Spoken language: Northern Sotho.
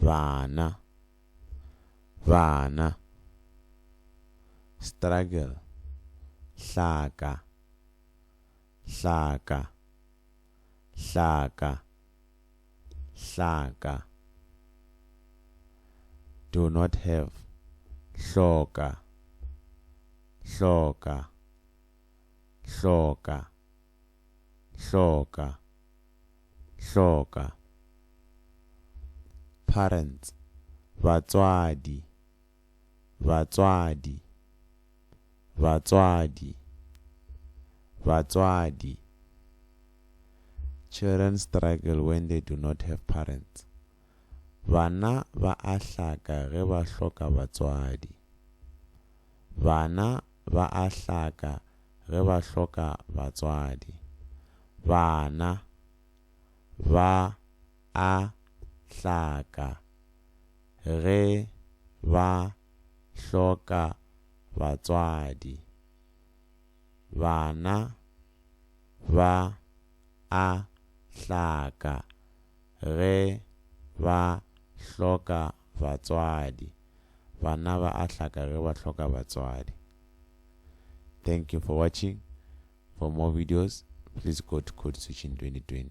Bana. Bana. Struggle. Hlaka. Hlaka. Hlaka. Hlaka. Do not have. Hloka. Hloka. Hloka. Hloka. hloka, parents, batswadi, batswadi, batswadi, batswadi, Children struggle when they do not have parents, Bana ba a hlaka ge ba hloka batswadi, Bana ba a hlaka ge ba hloka batswadi. Bana ba a hlaka ge ba hloka batswadi. Bana ba a hlaka Ge ba hloka batswadi. Bana ba a hlaka ge ba hloka batswadi. Thank you for watching. For more videos, please go to Code Switching 2020.